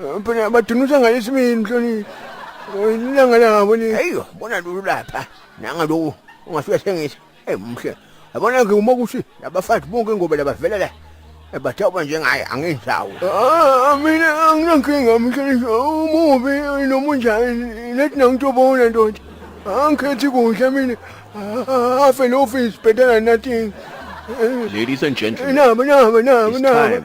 Eh, phela badunusa ngalesimini mhloniphi Eh, ilanga labo leli eyi bona lulu lapha nanga loku ungasuke sengisa eyi mhle yabona-ke uma ukuthi labafazi bonke ingoba labavela la Eh, bathawuba njengaye angenzawo Ah, ah, mina anginankinga mhloniphi umubi eh, noma unjani lethi nangitobona ndoda angikhethi kuhle mina Ah, afe lo ofisi better than nothing Ladies and gentlemen, nabo nabo nabo it's nabo time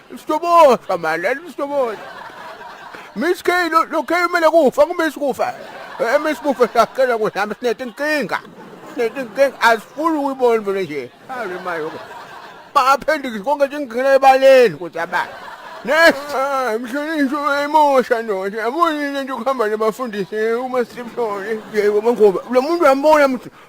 Sitoboshwa mani, sitoboshwa. Miss K lo lo K umele kufa kumisi kufa. Eh miss kufa sacela ukuthi hamba sinethe inkinga. Sinethe inkinga asifuni ukuyibona vele nje. Hayi mayo. Baphendiki konke nje ngigcina ebaleni ukuthi abani. Nesa mhlonishwa wayimosha no. Yabona into ukuhamba nabafundisi uma sihlole. Yebo mangoba lo muntu uyambona mthi